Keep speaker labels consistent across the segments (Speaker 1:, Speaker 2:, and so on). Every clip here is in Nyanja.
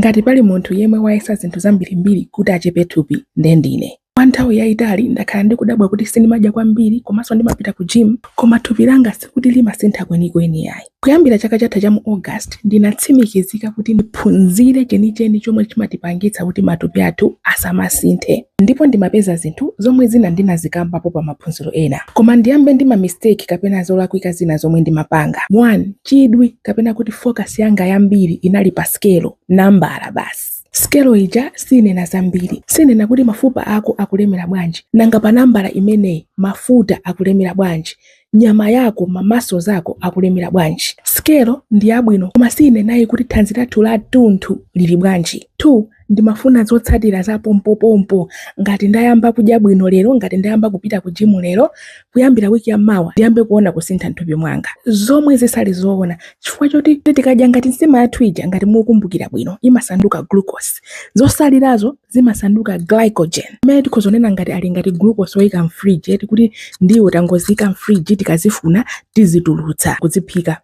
Speaker 1: Ngati pali munthu yemwe wayesa zinthu zambirimbiri kuti achepe thupi, nde ndine. Kwa nthawi yaitali ndakhala ndikudabwa kuti sindimadya kwambiri komanso ndimapita ku gym koma thupi langa sikuti limasintha kwenikweni ayi. Kuyambira chaka chatha cha mu August, ndinatsimikizika kuti ndiphunzire chenicheni chomwe chimatipangitsa kuti matupi athu asamasinthe. Ndipo ndimapeza zinthu zomwe zina ndinazikambapo pa maphunziro ena. Koma ndiyambe ndi ma mistake kapena zolakwika zina zomwe ndimapanga. 1, chidwi kapena kuti focus yanga yambiri inali pa sikelo nambala basi sikelo ija sinena zambiri sinena kuti mafupa ako akulemera bwanji nanga pa nambala imeneyi mafuta akulemera bwanji nyama yako ma muscles ako akulemera bwanji sikelo ndi yabwino koma sinenayi kuti thanzi lathu la tunthu lili bwanji 2 Ndimafuna zotsatira za pompopompo. Ngati ndayamba kudya bwino lero, ngati ndayamba kupita ku jimu lero, kuyambira wiki ya mawa ndiyambe kuona kusintha m'thupi mwanga. Zomwe zisali zoona chifukwa choti tikadya ngati nsima yathu ija ngati mukumbukira bwino imasanduka glucose. Zotsalirazo zimasanduka glycogen imene tikhoza kunena ngati ali ngati glucose woyika m'fridge eti kuti ndiwo tangoziika m'fridge tikazifuna tizitulutsa kuziphika.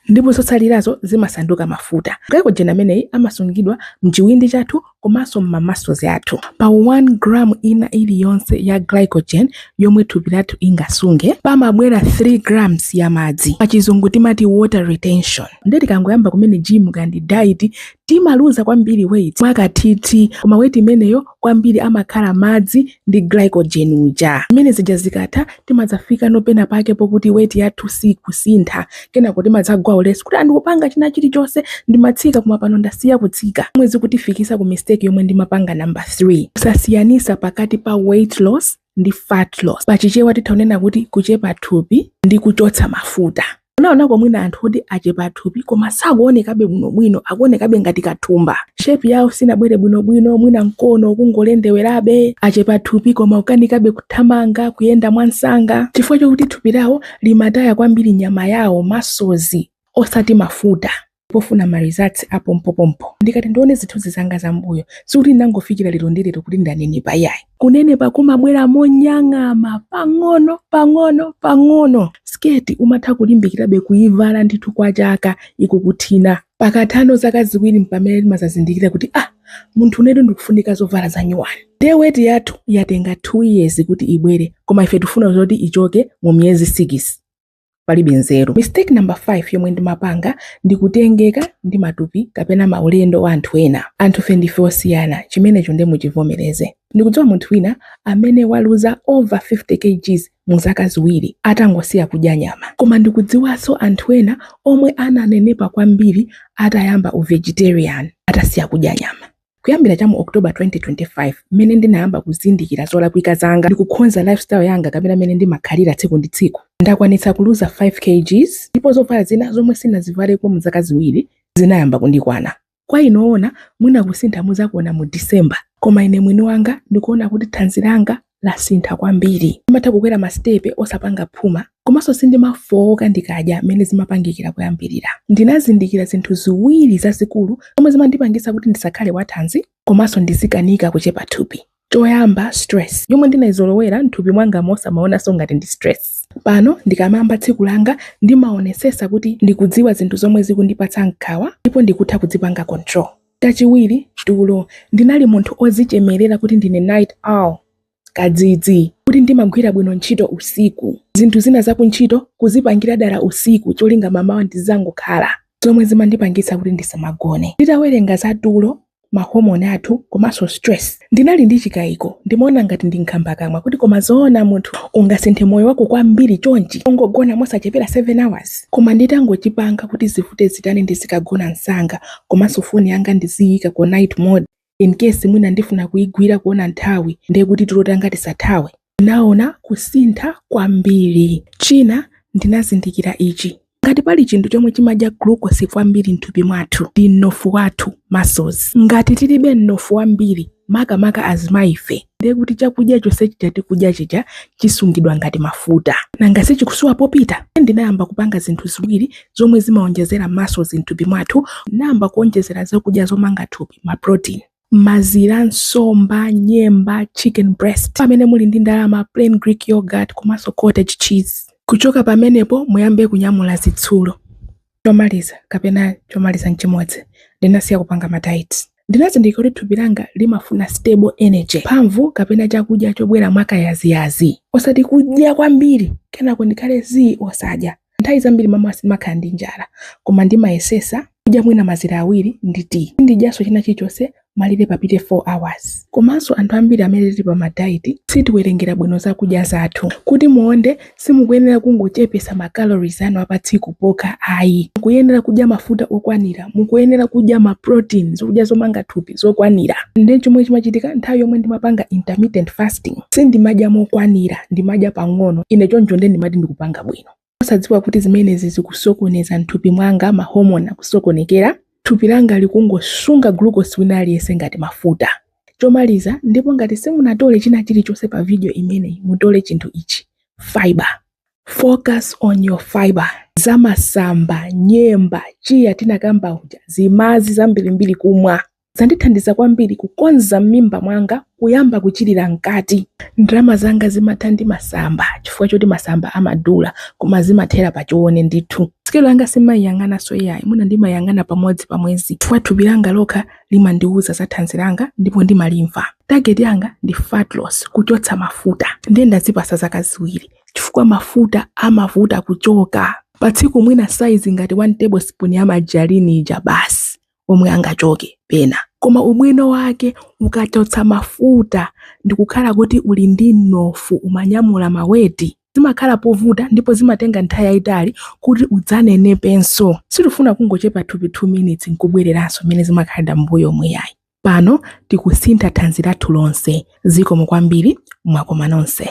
Speaker 1: ndipo zotsalirazo zimasanduka mafuta. Glycogen ameneyi amasungidwa m'chiwindi chathu komanso m'ma muscles athu. Pa 1 gram ina iliyonse ya glycogen yomwe thupi lathu ingasunge, pamabwera 3 grams ya madzi. Pachizungu timati water retention. Ndiye tikangoyamba kumene gym kaya ndi diet, timaluza kwambiri weight mwakathiti, koma weight imeneyo kwambiri amakhala madzi ndi glycogen uja zimene zija zikatha timadzafika nopena pake pokuti weti yathu sikusintha kenako timadzagwa ulesi kuti ah ndikupanga china chilichonse ndimatsika koma pano ndasiya kutsika zomwe zikutifikitsa ku mistake yomwe ndimapanga number 3 kusasiyanisa pakati pa weight loss ndi fat loss pachichewa titha kunena kuti kuchepa thupi ndi kuchotsa mafuta munaonako mwina anthu oti achepa thupi koma sakuonekabe bwinobwino akuonekabe ngati kathumba shepi yawo sinabwere bwinobwino mwina mkono ukungolendewerabe achepa thupi koma akukanikabe kuthamanga kuyenda mwansanga chifukwa chokuti thupi lawo limataya kwambiri nyama yawo muscles osati mafuta pofuna ma results a pompopompo. Ndikati ndione zithunzi zanga za m'mbuyo, sikuti ndinangofikira lero ndi lero kuti ndanenepa iyayi. Kunenepa kumabwera monyang'ama, pang'ono pang'ono pang'ono. Siketi umatha kulimbikirabe kuivala ndithu kwa chaka ikukuthina. Pakatha no zaka ziwiri mpamene timazazindikira kuti ah, munthu unetu ndikufunika zovala zanyuwani. Ndiye weti yathu yatenga 2 years kuti ibwere, koma ife tifuna zoti ichoke mu miyezi 6. palibe nzeru mistake number 5 yomwe ndimapanga ndi kutengeka ndi matupi kapena maulendo a anthu ena anthufe ndife osiyana chimenecho nde muchivomereze ndikudziwa munthu wina amene waluza over 50 kgs mu zaka ziwiri atangosiya kudya nyama koma ndikudziwanso anthu ena omwe ananenepa kwambiri atayamba uvegetarian atasiya kudya nyama Kuyambira cha mu October 2025 mmene ndinayamba kuzindikira zolakwika zanga ndi kukhonza lifestyle yanga kapena mmene ndimakhalira tsiku ndi tsiku, ndakwanitsa kuluza 5 kgs ndipo zovala zina zomwe sinazivaleko mu zaka ziwiri zinayamba kundikwana. Kwa inu oona, mwina kusintha muzakuona mu December, koma ine mwini wanga ndikuona kuti thanzi langa lasintha kwambiri. Ndimatha kukwera masitepe osapanga phuma komanso sindimafooka ndikadya mmene zimapangikira kuyambirira. Ndinazindikira zinthu ziwiri zazikulu zomwe zimandipangisa kuti ndisakhale wathanzi komanso ndizikanika kuchepa thupi. Choyamba, stress yomwe ndinaizolowera m'thupi mwangamo osamaonanso ngati ndi stress. Pano ndikamayamba tsiku langa ndimaonesesa kuti ndikudziwa zinthu zomwe zikundipatsa nkhawa ndipo ndikutha kudzipanga control. Kachiwiri, tulo. Ndinali munthu ozichemerera kuti ndine night owl, kadzidzi, kuti ndimagwira bwino ntchito usiku. Zinthu zina za kuntchito kuzipangira dala usiku cholinga mamawa ndizangokhala, zomwe zimandipangisa kuti ndisamagone. Nditawerenga za tulo, ma hormone athu komanso stress. Ndinali ndi chikayiko, ndimaona ngati ndi nkhambakamwa kuti koma zoona munthu ungasinthe moyo wako kwambiri chonchi ungogona mosachepera 7 hours? Koma nditangochipanga kuti zivute zitani ndizikagona msanga komanso foni yanga ndiziyika ku night mode in case mwina ndifuna kuigwira kuona nthawi ndekuti tulo tanga tisathawe. ndinaona kusintha kwambiri. China, ndinazindikira ichi, Ngati pali chinthu chomwe chimadya glucose kwambiri m'thupi mwathu, ndi mnofu wathu, muscles. Ngati tilibe mnofu wambiri, makamaka azimayife, ndiye kuti chakudya chonse chija tikudya chija chisungidwa ngati mafuta. Nanga si chikusowa popita? Ndinayamba kupanga zinthu ziwiri zomwe zimaonjezera muscles m'thupi mwathu, ndinayamba kuonjezera zakudya zomanga thupi, ma protein. mazira, nsomba, nyemba, chicken breast, pamene muli ndi ndalama, plain Greek yoghurt komanso cottage cheese. Kuchoka pamenepo muyambe kunyamula zitsulo. Chomaliza kapena chomaliza n'chimodzi, ndinasiya kupanga ma diet. Ndinazindikira kuti thupi langa limafuna stable energy, mphamvu kapena chakudya chobwera mwakayaziyazi, osati kudya kwambiri kenako ndikhale zii osadya. Nthawi zambiri mamawa simakhala ndi njala koma ndimayesesa kudya mwina mazira awiri ndi tea. Sindidyanso china chilichonse malire papite 4 hours. Komanso anthu ambiri amene tili pa ma diet sitiwerengera bwino zakudya zathu. Kuti muonde simukuyenera kungochepesa ma calories anu a pa tsiku pokha ayi. Mukuyenera kudya mafuta okwanira, mukuyenera kudya ma protein, zokudya zomanga thupi zokwanira. Nde chomwe chimachitika nthawi yomwe ndimapanga intermittent fasting, Sindimadya mokwanira, ndimadya pang'ono, ine choncho nde ndimati ndikupanga bwino. Osadziwa kuti zimenezi zikusokoneza m'thupi mwanga, ma hormone akusokonekera, thupi langa likungosunga glucose wina aliyense ngati mafuta. Chomaliza, ndipo ngati simunatole china chilichonse pa video imeneyi, mutole chinthu ichi, fibre. Focus on your fibre. Za masamba, nyemba, chia tinakamba uja, zimazi zambirimbiri kumwa. zandithandiza kwambiri kukonza m'mimba mwanga kuyamba kuchirira mkati. Ndrama zanga zimatha ndi masamba chifukwa choti masamba amadula koma zimathera pa choone ndithu. Sikelo yanga sindimayiyang'ananso iyayi, mwina ndimayang'ana kamodzi pa mwezi chifukwa thupi langa lokha limandiwuza za thanzi langa ndipo ndimalimva. Target yanga ndi fat loss, kuchotsa mafuta. Ndiye ndazipasa zaka ziwiri chifukwa mafuta amavuta kuchoka. Pa tsiku mwina size ngati 1 tablespoon ya margarine ija basi. omwe angachoke pena koma ubwino wake ukachotsa mafuta ndikukhala kuti uli ndi mnofu umanyamula maweti zimakhala povuta ndipo zimatenga nthawi yayitali kuti udzanenepenso sitifuna kungochepa thupi 2 minutes nkubwereranso mmene zimakhalira mbuyomu iyayi pano tikusintha thanzi lathu lonse zikomo kwambiri mwakoma nonse